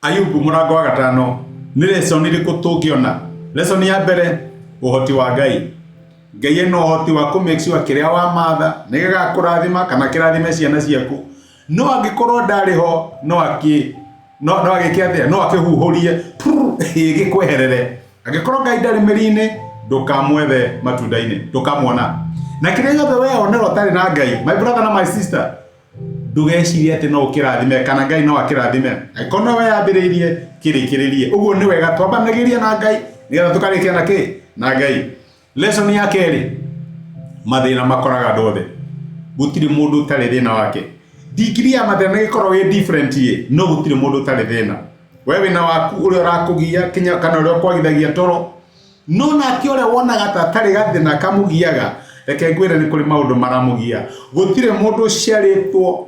Ayubu mũrango wa gatano nĩ lesson irĩkũ tũngĩona lesson ya mbere ũhoti wa ngai ngai ena ũhoti wa kũ make sure kĩrĩa wamatha nĩ gĩgakũrathima kana kĩrathime ciana ciaku no angĩkorwo ndarĩ ho no akĩ no no agĩke atĩa no akĩhuhũrie prrr, ĩ, gĩkweherere angĩkorwo ngai ndarĩ mĩri-inĩ ndũkamwethe matunda-inĩ ndũkamuona na kĩrĩa gĩothe wee onera ũtarĩ na ngai my brother na my sister ndũgecirie atĩ no ũkĩrathime kana ngai no akĩrathime angĩkorwo nowe yambĩrĩirie kĩrĩkĩrĩrie ũguo nĩ wega twambanagĩria na ngai nĩgetha tũkarĩkia na kĩ na ngai lesson ya kerĩ mathĩna makoraga andũ othe gũtirĩ mũndũ ũtarĩ thĩna wake ndigiri ya mathĩna nĩ gĩkorwo wĩ different ĩ no gũtirĩ mũndũ ũtarĩ thĩna we wĩna waku ũrĩa ũrakũgia kinya kana ũrĩa ũkwagithagia toro No nake ũrĩa wonaga ta atarĩ gathĩna kamũgiaga, reke ngwĩre nĩ kũrĩ maũndũ maramũgia. Gũtirĩ mũndũ ũciarĩtwo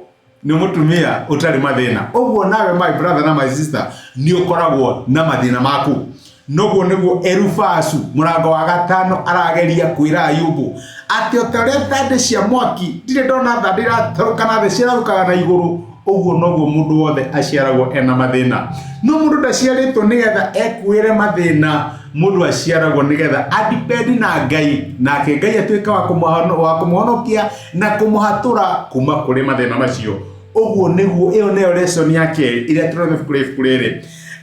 nĩ mũtumia ũtarĩ mathĩna. Ũguo nawe my brother na my sister nĩ ũkoragwo na mathĩna maku. Noguo nĩguo Erufasu mũrango wa gatano arageria kwĩra Ayubu atĩ o ta ũrĩa thandĩ cia mwaki ndirĩ ndona thandĩ iratarũka na thĩ cirarũkaga na igũrũ ũguo noguo mũndũ wothe aciaragwo ena mathĩna no mũndũ ndaciarĩtwo nĩgetha ekuĩre mathĩna mũndũ aciaragwo nĩgetha adipendi na ngai nake ngai atuĩka wa kũmũhono- wa kũmũhonokia na kũmũhatũra kuma kũrĩ mathĩna macio ũguo nĩguo ĩyo nĩyo lesson ya kerĩ ĩrĩa tũrona ibuku rĩ- ibuku rĩrĩ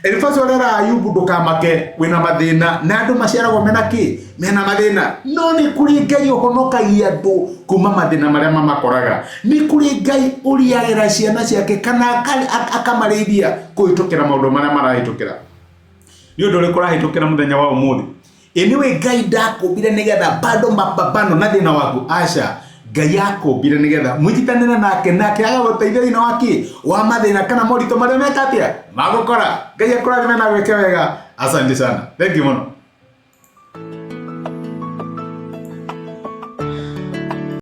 Elifazu arera Ayubu ndukamake wina mathina na andu maciaragwo mena ki mena mathina no ni kuri ngai uhonokagia andu kuma mathina maria mamakoraga ni kuri ngai uriagira ciana ciake kana aka- aka- akamarĩithia kuhitukira maundu maria marahitukira ni undu uriku urahitukira muthenya wa umuthi Anyway, Ngai ndakũmbire nĩgetha bado mapambano na thĩna waku aca Ngai akũmbire nĩgetha mũnyitanĩre nake nake agagũteithia thĩna waki wa mathĩna kana moritũ marĩa meka atĩa magũkora Ngai akũrathime na gwĩke wega asante sana thank you mũno